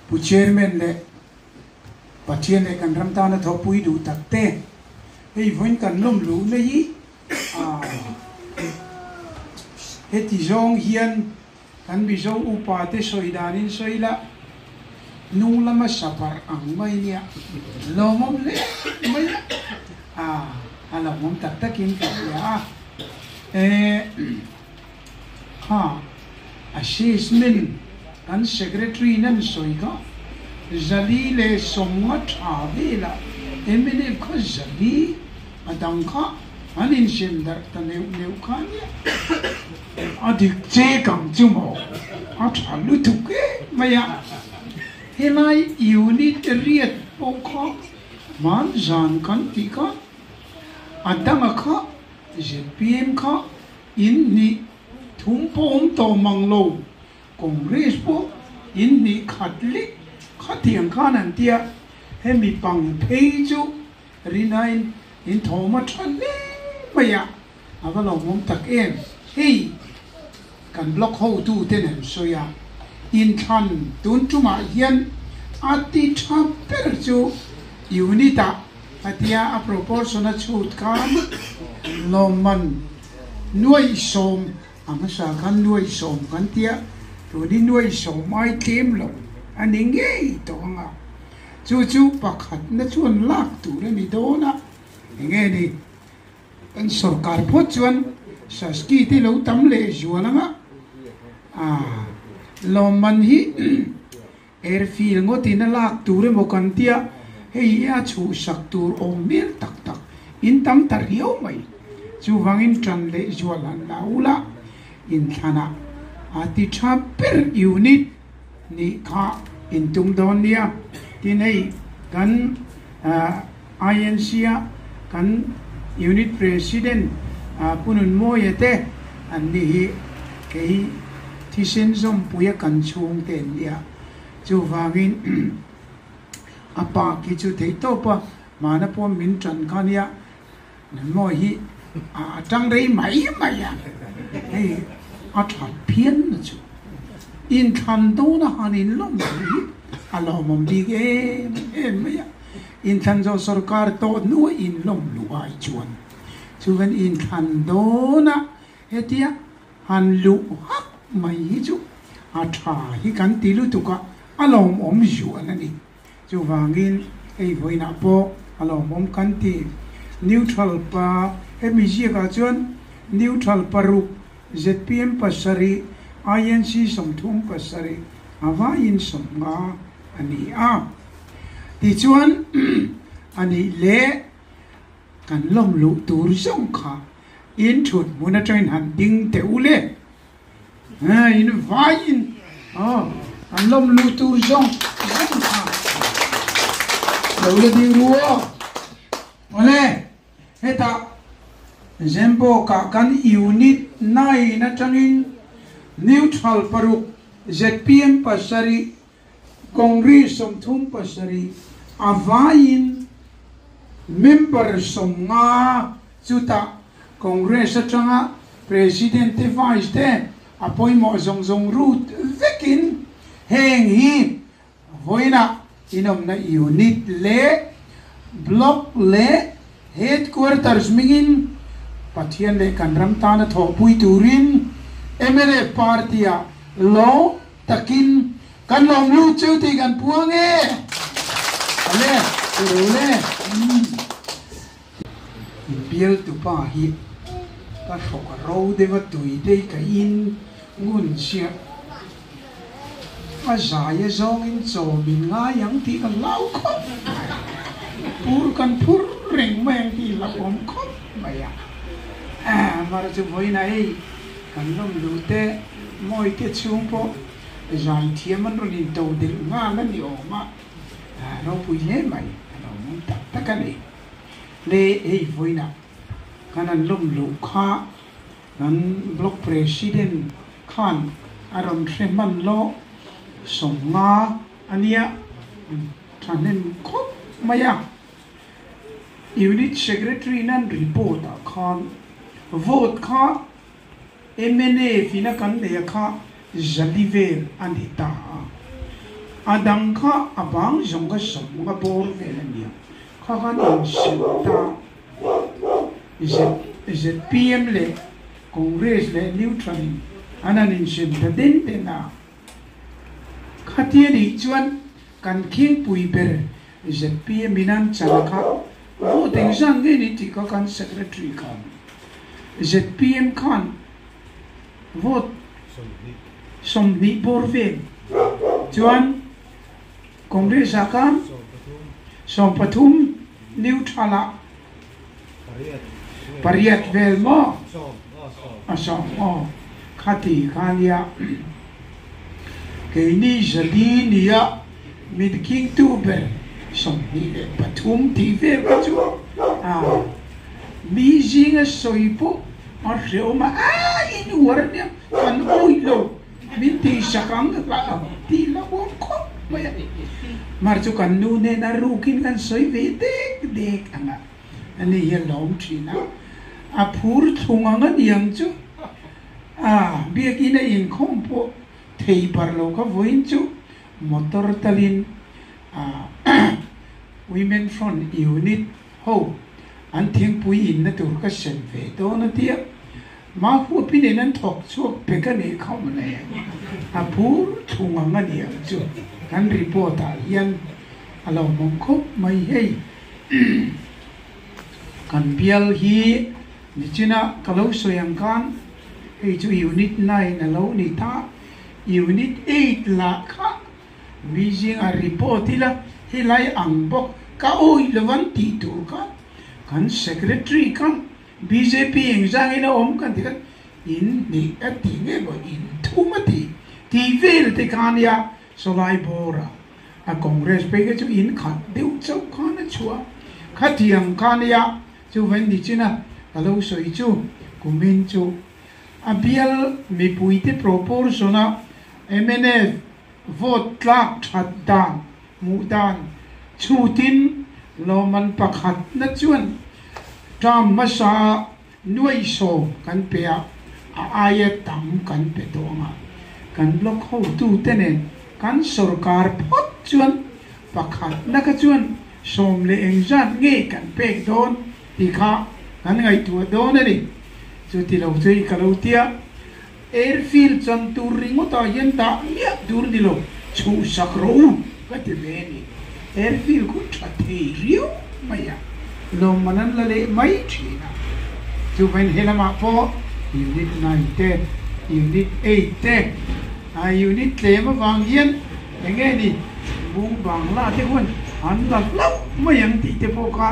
Pu Chairman leh Pathian leh kan ram tana thawhpui duh tak te hei vawiin kan lawm luh na hi heti zawng hian kan Mizo upa te sawi danin sawi la hnung lama sabar ang mai nia lawmawm leh mai a a lawmawm tak takin ka hria a. Kha, Ashish min kan secretary nan sawi ka, Zali leh Sawmnga tha vela Emily kha Zali a dang kha an insiam darh ta neuh neuh kha ania. A dik che kang chu maw, a tha lutuk em mai a, helai unit riat pawh kha hman zan kan tih kha a dang a kha Zfpm kha in hnih thum pawh awm tawh mang lo, Congress pawh in hnih khat leh khat hian khan an ti a, hemi pang phei chu Rinain in thawm a tha hle mai a, a va lo awm tak em? Hei! kan block hotu te nen sawi a, inthlan tun chungah hian a ti tha ber chu unit ah ka tia a proportion a chhut khan lawmman nuaihsawm a hmasa khan nuaihsawm kan tia tunin nuaihsawm ai tlem loh a ni ngei tawh ang a, chu chu pakhatna chuan lak tur a ni dawn a, eng nge ni? Kan sorkar pawh chuan Shasky te lo tam leh zual ang a, aah lawmman hi airfield ngawtin a lak tur emaw kan tia hei hi a chhuhsak tur awm hmel tak tak in tam ta riau mai, chuvangin tan leh zual han la ula inthlanah a ti tha ber unit nih kha in tum dawn nia tin hei kan aah. INC-a kan Unit President Punun Mawia te an ni hi kei thisen zawmpuia kan chhung te an ni a, chuvangin a park hi chu theih tawpa mahna pawm min ṭan kha nia. Mawi hi a tang rei mai mai a, hei a that phian na chu in thlan do na han in lawm tur hi a lawmawm bik em em mai a, in thlan zawh sawrkar tawh hnuai in lawm luh ai chuan chu khan in thlan do na hetia han luh hak mai hi chu a tha hi kan ti lutuk a a lawmawm zuan a ni. Chuvangin ei vawiinah pawh a lawm awm kan ti. Neutral pa MEGA chuan Neutral paruk, zpm pasarih, INC sawmthum pasarih a vawiin sawm nga a ni a. Tichuan, a nih leh kan lawmluh tur zawng kha inthut hmun atangin han ding teh u le. Hei, in vaiin kan lawm luh tur zawng zawng kha lo la ding ru aw. Awle, hetah Gembok-a kan unit nine atangin neutral paruk zpm pasarih, Kawngri sawmthum pasarih a vaiin member sawmnga chutah Congress atanga President te Vice te a pawimawh zawng zawng rut vekin heng hi vawiinah inawmna unit leh block leh headquarters hmingin Pathian leh kan ram tana thawhpui turin mla party-ah lawng Takin kan lawm lut chu tih kan puang e. Awle, awle umm. Bialtu pa hi ka hrawk ro deuha tui te i kaih in ngun chiah a zai a zawng in chaw min ngai ang tih ka hlau khawp mai a. Pur kan phur reng mai ang tih i la awm khawp mai a. Mar chu Mawina ei kan lawm lut e. Mawite chhung pawh zan thiam an rawn in to del nghal a ni awm a, ropui hle mai a lo ngun tak tak a ni. Hle hei vawiinah kan an lawm loh kha kan Block President khan a rawn hre hman lawh sawm nga a nia, thahnem khawp mai a. Unit Secretary nan report ah khan vote kha Emene in a kan neih a kha zali vel a ni ta a, a dang kha a bang zawnga zawnga bawr vel a nia, kha khan in sin ta ZZPM leh Congress leh Neutral in an han insen ta den den a. Khatia nih chuan kan khingpui ber ZPM min an chal a kha voting zan ngei ni tih kha kan secretary khan ZPM khan vote sawmhnih bawr vel chuan congress ah khan sawmpathum neutral ah Pariat vel maw? A sawm aw. Khati kha nia keini zali nia mitking tu ber sawmhnih leh pathum tih vel kha chu a mi zinga sawi pawh a hreawm a, a in uar nia kan awih lo Min tih hrak ang ka kah lo tih la huam khawp mai a ni. Mar chu kan nu hnena rukin kan sawi ve dek dek ang a, a ni hian lawm thin a, a phur thlung ang a ni ang chu. Aah, biakin a inkhawm pawh thei par lo ka vawiin chu motor talin Women Front Unit Ho, an thingpui inna tur ka sen ve dawn a tia, mah huapin in an thawk chhuak pe ka nih kha awm le. A phur thung ang a ni ang chu, kan report ah hian a lo mawm khawp mai hei. Kan bial hi nichina ka lo sawi ang khan, hei chu unit nine a lo ni ta, unit eight lah kha Beijing a report ila, helai ang bawk ka awih lo an tih tur kha kan secretary kha bjp engzangin a awm kan tikhan in hnih a ti ngei bo in thum a ti tih vel te kha nia Solai Bora a congress phei kha chu in khat deuh chauh khan a chhuah a, khathiam kha nia chuvain nichina ka lo sawi chu kumin chu. A bial mipuite propose zawna mnf vote tlak that dan hmuh dan chhutin lawmman pakhat na chuan term hmasa a nuaihsawm kan pe a, a aia tam kan pe tawh anga kan block hotu te nen kan sorkar phawt chuan pakhat na kha chuan sawm leh eng zat nge kan pek dawn? Ti kha kan ngaihtuah dawn a ni. Chu ti lo chu i ka lo tia, Airfield chan tur ringawtah hian dah miah tur ni lo, chhuhsak rawh u ka ti ve a ni. Airfield kut tha thei riau mai a, lawmman an la leh mai thin a. Chu veng he lamah pawh Unit Nine te, Unit Eight te, Unit tlem avang hian, Eng nge ni? Bung Bangla te huan an la hlauh mai ang tih te pawh kha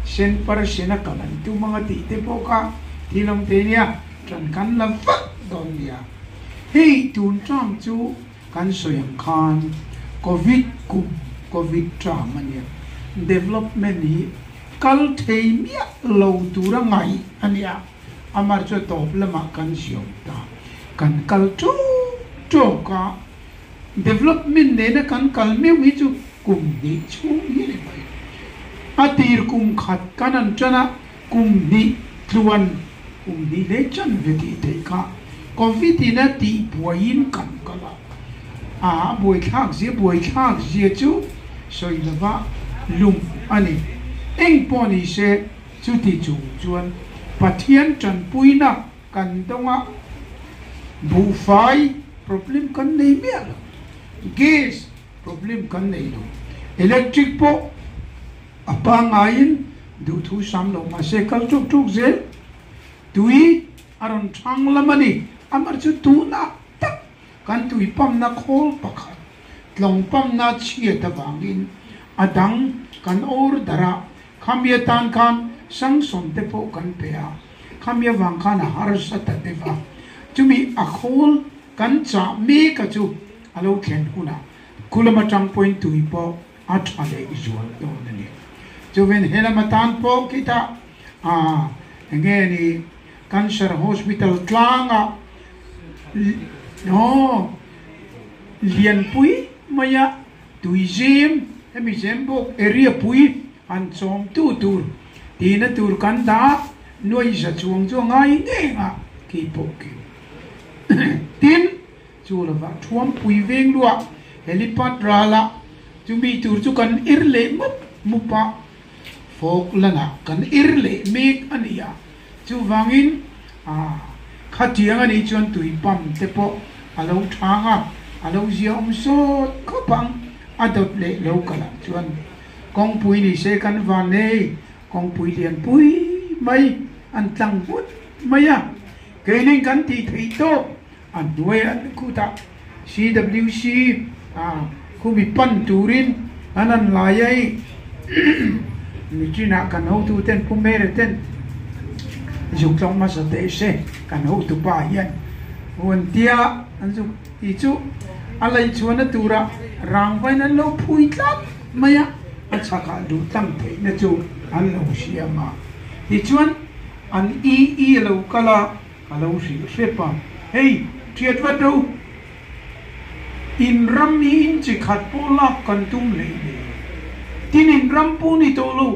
Senpar Sena kan an tum ang a tih te pawh kha thil awm teh nia, tan kan la vat dawn nia. Hei tun tang chu kan sawi ang khan Covid kum, Covid tang a nia. Development hi kal thei miah lo tura ngaih a nia. Amah chu tawp lamah kan siam ta, kan kal tawk tawk a, development nena kan kal meuh hi chu kum hnih chhung hi ni mai. A tir kum khat kan han tan a, kum hnih tluan, kum hnih hlei tan ve tih theih kha Covid in a tih buaiin kan kal a, a buai thlak zia buai thlak zia chu sawi lova lum a ni. Eng pawh ni se. Chuti chung chuan Pathian tanpuina kan dawng a, buhfai problem kan nei miah lo, gas problem kan nei lo, electric pawh a pangaiin duh thu sam lo mahse kal ṭuk ṭuk zel tui a rawn ṭhang lam a ni. Amah chu tuhna tak kan tui pump-na khawl pakhat tlawng pump-na chhiat avangin a dang kan order-ah Khamia tan khan sangsawn te pawh kan pe a, khamia vang khan a harsa ta deuh a, chumi a khawl kan chah meka chu a lo thlen hunah khulam atang pawhin tui pawh a tha leh zual dawn a ni. Chuven he lama tan pawh khitah aah enge ni cancer hospital tlanga aw lianpui maia Tuizem hemi zembawk area pui han chawm tu tur tihna tur kan dah nuaiza chuang chuang ngai ngeng a khi pawh kil tin chu lovah thuam pui veng luah helipad ral ah chumi tur chu kan ir leh mup mup a fawk lan ah kan ir leh mek a nia Chuvangin, khatiang a nih chuan tui pump te pawh a lo thang a, a lo ziaawm sawt khawp ang, a dawt leh lo ka lah chuan kawngpui ni se kan van nei, kawngpui lian pui mai an tlang nghut mai a, keinin kan tih theih tawp. A hnuai a an kut a, CWC a khumi pan turin an han lai a i. Nichinah kan hotu ten Pumere ten zuk tlawng hmasa teh se kan hotu pa hian huan tia an zuk tih chu a laihchhuahna tura rangvain an lo phui tlat mai a, a chhakah duhtlang theihna chu an lo siam a. Tichuan an ii a lo kal a. A lo hril hrep a, Hei, ṭhiat vat ho! Inram hi in che khat pawh lak kan tum leh leh. Tin inram pawh ni tawh lo.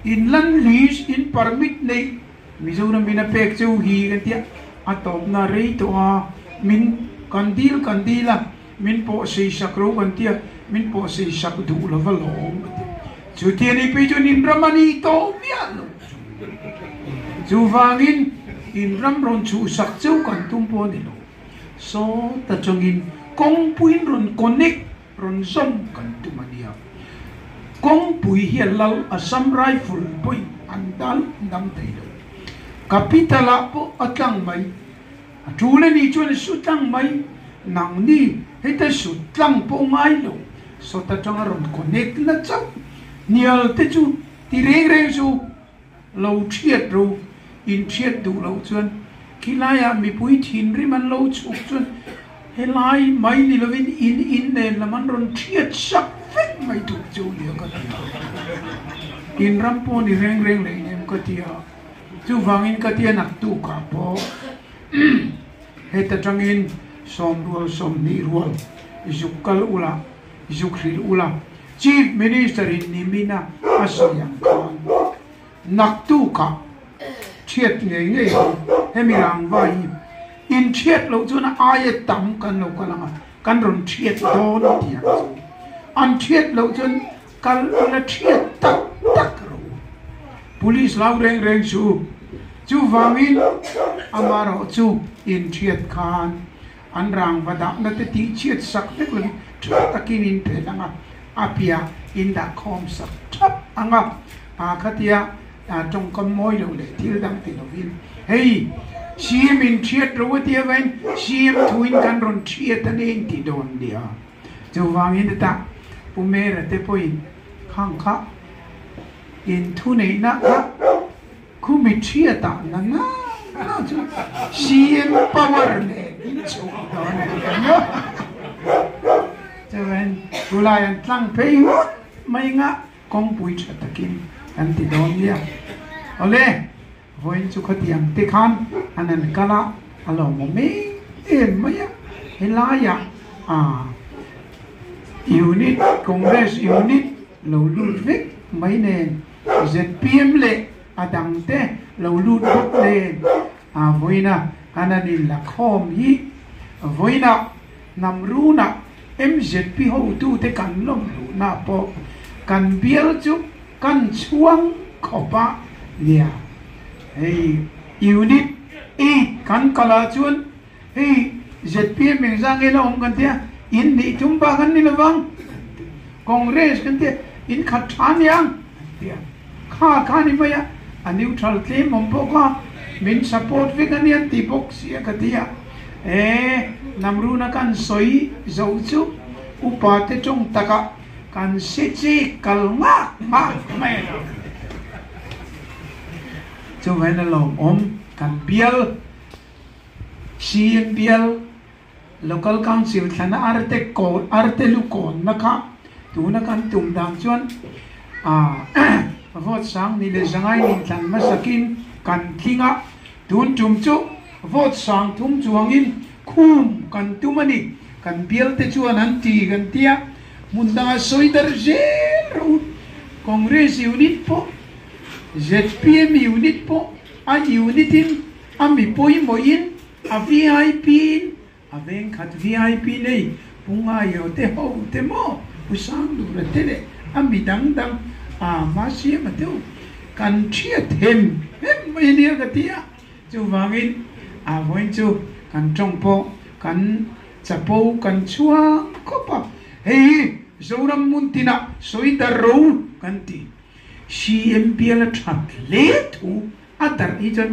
In lan lease, in permit neih Mizoram in a pek cheu hi kan ti a, a tawpna rei tawh a, min kan deal kan deal a. Min pawh sei sak lo kan tia min pawh sei sak duh lova lawm ka ti. Chu ti a ni pi chuan inram a ni tawh miah lo chu. Chuvangin inram rawn chhuh sak cheu kan tum pawh a ni lo. Sawt atangin kawngpuiin rawn connect rawn zawm kan tum a nia. Kawngpui hian Lal Assam Rifle pawhin an dan dam thei lo. Capital ah pawh a tlang mai. A tul anih chuan a hru tlang mai. Nang ni heta hrut tlang pawh ngai lo sawt atanga rawn connect na chauh. Hnial te chu ti reng reng chu lo thiat ro, in thiat duh loh chuan khi laiah mipui thinrim an lo chhuk chuan helai mai ni lovin in in nen lam an rawn thiat sak vek mai tur chu nia ka ti a. In ram pawh ni reng reng leh em ka ti a. Chuvangin ka tianak tukah pawh heta tangin sawmrual sawmhnih rual zuk kal ula, zuk hrilh ula Chief Minister in nimina a sawi ang khan nak tukah thiat ngei ngei hi hemi rangva hi inthiat loh chuan a aia tam kan lo kal ang a, kan rawn thiat dawn a ti ang chu an thiat loh chuan Kal a la thiat tak tak rawh u. Police lau reng reng chu chuvangin ama rawh chu inthiat khan an rangva dahna te tih chhiat sak vek lovin tha takin in phelh ang a, a piah in dah khawm sak thap ang a, a khatia tawngkam mawi loh leh thil dang ti lovin hei cm inthiat rawh a tia vain cm thuin kan rawn thiat a nen tih dawn nia. Chuvangin a tah, Pu Mera te pawhin khang kha in thu neihna kha khu mi thiatah na na na chu CM power nen in chhuh dawn a ti ang a. Chuan Pu Lai an tlang phei hut mai ngah kawngpui tha takin kan ti dawn nia. Awle. Vawiin chu khawti ang te khan an han kal a, a lo mawm em em mai a, helaiah aah unit congress unit lo lut vek mai nen zpm leh a dang te lo lut bawk nen aah vawiina khan an in lakhawm hi vawiinah Hnam runa mzp hotute kan lawm luhna pawh kan bial chu kan chhuang khawp a nia. Hei unit eight kan kal ah chuan hei zpm eng zang nge la awm kan tia in hnih thum bak an ni lovang congress kan tia in khat tha niang an tia kha kha ni mai a a neutral tlem awm bawk a min support vek anian tih bawk sia ka ti a. E, nang runa kan sawi zo chu upa te tawng taka kan si chi kal nghak nghak mai lo. Chuvaiin a lawmawm kan bial, CM bial, Local Council thlana arte kawn arte lu kawnna kha tuna kan tum dan chuan a vote sang ni leh zangai ni tlan hmasakin kan tling a. Tun tum chu vote sang thum chuangin khum kan tum a ni, kan bialte chuan an ti kan ti a, hmun danga sawi dar zel rawh u, Congress unit pawh, zpm unit pawh a unit in, a mi pawimawhin, a VIP in, A veng khat VIP nei Pu Ngaio te ho te maw Pu Sangdura te leh a mi dang dang ah hma siama deuh kan thia them hnem mai ania ka ti a, chuvangin a vawiin chu kan tawng pawh kan chapo kan chuang khawp a, hei hi Zoram hmun tinah sawi darh ro kan ti, CM biala that hle thu. A darh hi chuan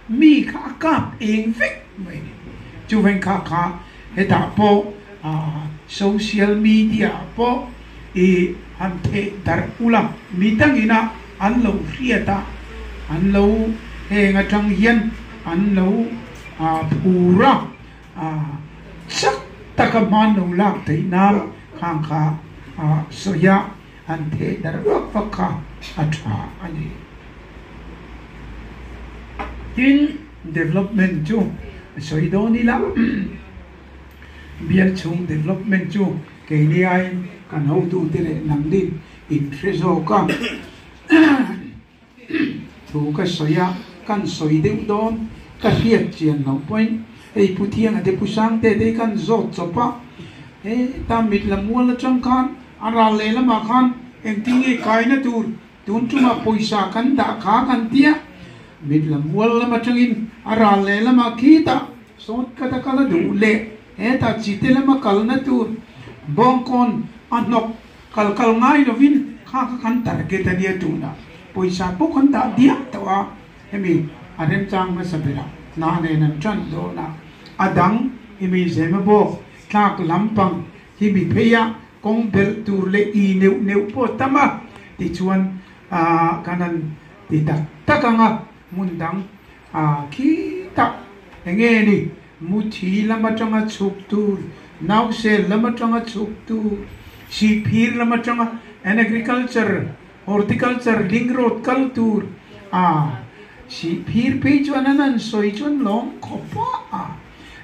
mi kha a kap eng vek mai a ni. Chu vengkha kha hetah pawh social media ah pawh i han theh darh ulh a, mi tangin a an lo hriat a, an lo heng atang hian an lo phur a, chak taka hmanlo lak theihna khang kha sawi a. an thei dar vak vak kha a tha a ni. Tin, development chu sawi dawn ila, bial chhung development chu kei neiain kan hotute leh nangin in hre zawk a. Thu ka sawi a, kan sawi deuh dawn, ka hriat chian loh paih. Hei Pu Thiang a te Pu Sangte te hi kan zawt chawp a, he ta mitla mual atang khan a ral lehlam ah khan engtin nge kaina tur tun chungah pawisa kan dah kha kan ti a, mitla mual lam atangin a ral lehlam ah khitah sawt khat a kal a duh leh hetah chite lama kalna tur bawngkawn a hnawk Kal kal ngai lovin kha kha kan target a nia tunah pawisa pawh kan dah diam tawh a, hemi a remchang hmasa bera hna nen an ṭan dawn a, a dang i mi zema bawk tlak lampang hi mi pheia kawng belh tur leh ii neuh neuh pawh tam a tichuan aah kan han ti tak tak ang a, hmun dang aah khitah enge ni Muthi lam atanga chhuktu, Nausel lam atanga chhuktu, Sihphir lam atanga an agriculture, horticulture, ling road kal tur a sihphir phei chuan an han sawi chuan lawm khawp a,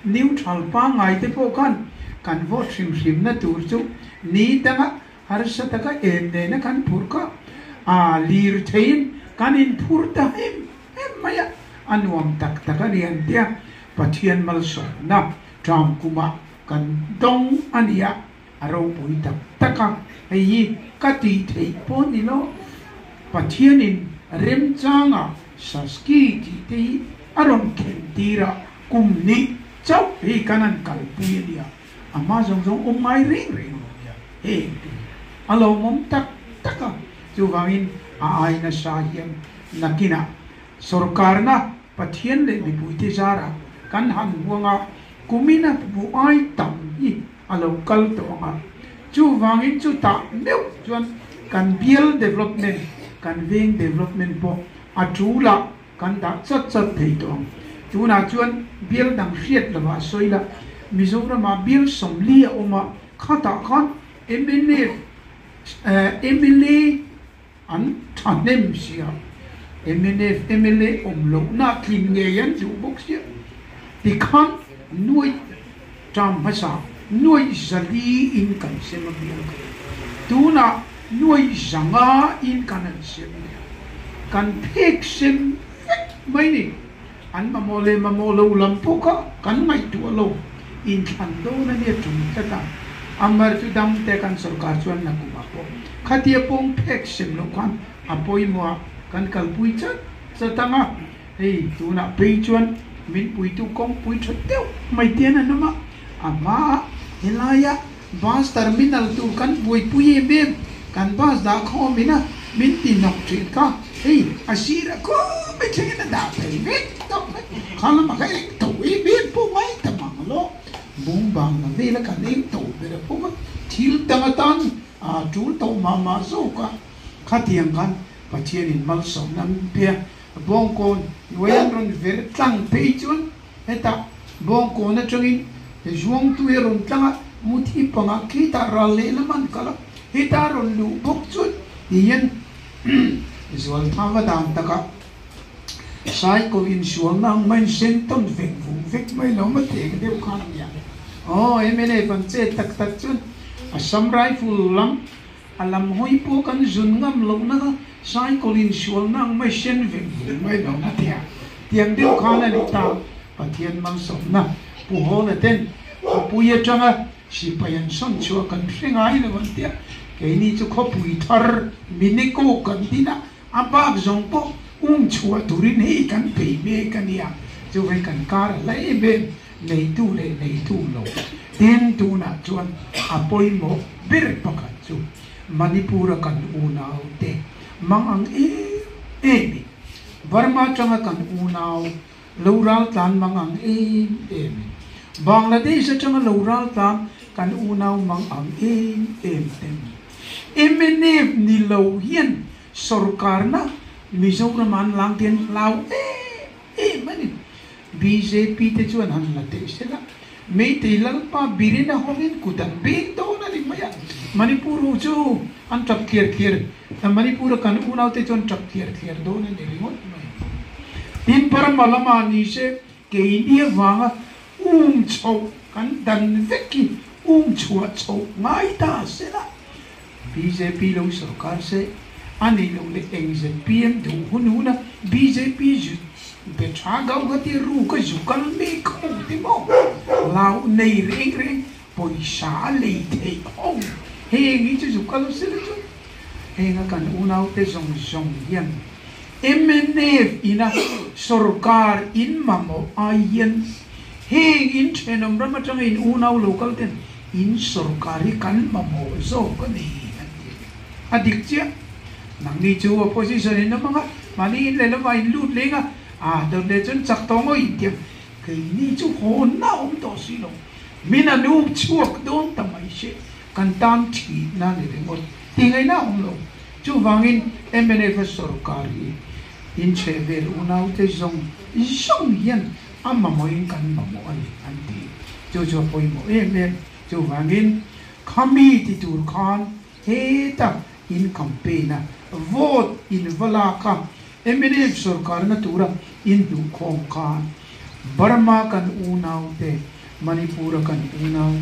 neutral pangngai te pawh khan kan vote hrim hrimna tur chu ni dang a. Harsa taka en nena kan phur kha a lir theiin kan inphur ta him him mai a, a nuam tak tak a ni an tia Pathian malsawmna ṭam kuma kan dawng a nia a ropui tak tak a, hei hi ka tih theih pawh ni lo Pathianin remchanga Saski tih te hi a rawn khentirah kum nih chauh hi kan an kalpui a nia. A hma zawng zawng awm ngai reng reng a rawn ni a, heng tih hi a lo awm tak tak a. Chuvangin a ai nasa hian nakinah sawrkarna Pathian leh mipuite zarah kan han buang a, kumina bu ai tam hi a lo kal tawh ang a. Chuvangin chutah meuh chuan kan bial development, kan veng development pawh a ṭul a Kan dah chat chat thei tawh ang. Tunah chuan bial dang hriat lovah sawi lah, Mizorama bial sawmli a awm a, khatah khan mla, mla an thahnem sia, mla, mla awm lohna tlin ngei an duh bawk sia tikhan nuai. Ṭam hmasa nuai zali in kan sem a bial kha tunah nuai zanga in kan an sem nia kan phek sem vek mai ni an mamawh leh mamawh lo lam pawh kha kan ngaihtuah lo in thlan dawn a nia ṭum tlat a a mar chu dam te kan sorkar chuan na kum ah pawh khatia pawng phek sem loh khan a pawimawh a kan kalpui chat chat ang a. Hei tunah pei chuan min puitu kawngpui tha deuh mai te an han awm a, a hmaah helaia bus terminal tur kan buaipui em em, kan bus dah kha awm ina min ti hnawk thin kha hei a sirah khumai thlengin a dah thei vek tawh mai, khar lamah kha eng tho em em pawh ngai ta mang lo, Bungbangla vela kan eng tho ber a pawm a, thil dang atan aa tul tawh mah mah zawk a, khatiang khan Pathianin malsawmna min phia Bawngkawn Loyang rawn ver tlang phei chuan heta Bawngkawn atangin Zuangtui a rawn tlang a, Muthi panga khitah ral lehlam an kalh a, heta a rawn luh bawk chuan hian Zualthava dan takah Saikaw insualna ang mah in sen tawn vek vung vek mai lo mah teng deuh khan nia. Aw, MNF an chet tak tak chuan Assam Rifle lam A lam hawi pawh kan zun ngam loh nanga cycle in sualna ang mai hrian vek ve mai lo na tia tiang deuh khan a ni ta. Pathian malsawmna Pu Hawla ten khawpui atanga sipai an sawn chhuah kan hre ngai lo an tia keini chu khawpui thar Mineco kan dina a bak zawng pawh um chhuah turin hei kan pe mek a nia chuve kan kar a la em em. Neitu leh neihtu lo eng tunah chuan a pawimawh ber pakhat chu Manipur a kan unau te mang ang em em in, Burma atanga kan unau lo ral tlan mang ang em em in, Bangladesh atanga lo ral tlan kan unau mang ang em em te ni. Mnf ni lo hian sawrkarna Mizoram ah an lang te an hlau em em. em a ni. Bjp te chuan han la teh sil a, Meitei Lalpa Birina hawngin kut an beng dawn a ni mai a, Manipur ho chu an tap thliar thliar, Manipur a kan unau te chuan tap thliar thliar dawn a ni ringawt mai. Tin Burma lama ni se kei nia vanga um chhoh kan dan vek hi um chhuah chhoh ngai ta sil a, Bjp lo sawrkar se a neih loh le eng zet pian duh hun hun a bjp zut be tha gauhati ru ka zu kal mek ka hmu te maw lau nei reng reng pawisa a lei theih hawng heng hi chu zu kal a sela chuan heng a kan unau te zawng zawng hian mnf in a sawrkar in mamawh ai hian heng in thenawm ram atanga in unau lo kal ten In sorkar hi kan mamawh zawk a ni an ti ve. A dik chiah, nangni chu opposition in awm ang a, mahni in lehlawm ah in lut leng a, ah dawt leh chuan chak tawh ngawih an ti a, keini chu hawnna awm tawh si lo, min an up chhuak dawn ta mai se, kan tan thih na ni ringawt, ti ngei na awm lo, chuvang in mnf a sorkar hi in chhe vel unaute zawng zawng hian, a mamawhin kan mamawh a ni an ti. Chu chu a pawimawh em em. Chuvangin khami ti tur khan heta in campaign a, vote in va lak a, mnf sawrkar na tura in hnuh khawm khan Burma kan unau te, Manipur a kan unau,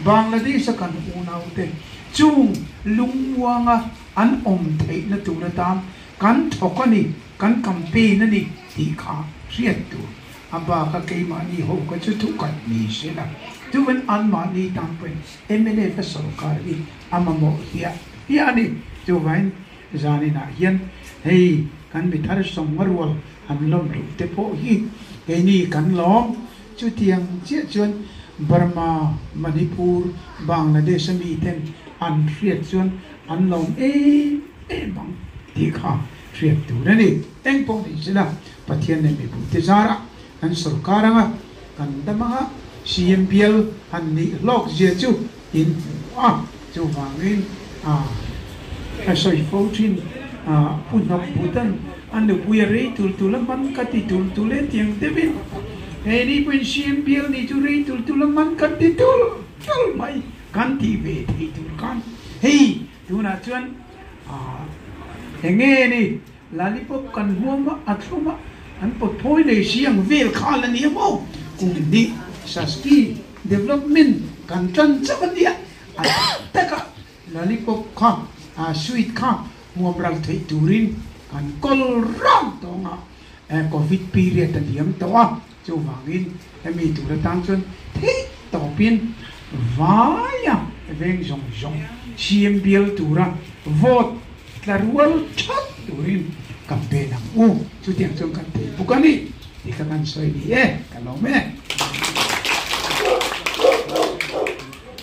Bangladesh a kan unau te chung lungmuanga an awm theih na tur atan kan thawk a ni. Kan campaign a ni tih kha hriat tur a bak a, keimahni ho kha chu thu khat ni se la, tuva'n anmahni tan pawhin mlf a sawrkar hi a mamawh hliah hliah a ni. Tuva'n zaninah hian hei kan mi thar sawmnga rual han lawm loh te pawh hi keini kan lawm. Chutiang chiah chuan Burma, Manipur, Bangladesh a miten an hriat chuan an lawm em em ang tih kha. hriat tur a ni. Eng pawh nih chila Pathian leh mipumte zara kan sorkar anga kan dam anga siam bial han nih hlawk zia chu in hmu a, chuvangin ka sawi fo thin a, Phuhnawk Bhutan a nupui a rei tul tul a hman ka ti tul tul e tiang deuhin hei ni pawhin siam bial ni chu rei tul tul a hman kan ti tul tul mai kan tih ve thei tur khan hei Tunah chuan aah eng nge ni Lalipop kan hmuam vah a thlum a, an pawtphawi leh hri ang vel khal a nia maw? Kum hnih Sasti Development kan tan chauh a nia, a tam taka Lalipop kha aah sweet kha hmuam ral theih turin kan kawl rang tawng a, Covid period a diam tawh a, Chuvangin hemi tur atan chuan theih tawpin vaia veng zawng zawng siam bial tura vote tla rual that turin kan pe ang u, chutiang chuan kan pe bawk a ni tih ka kan sawi ni e, ka lawm e.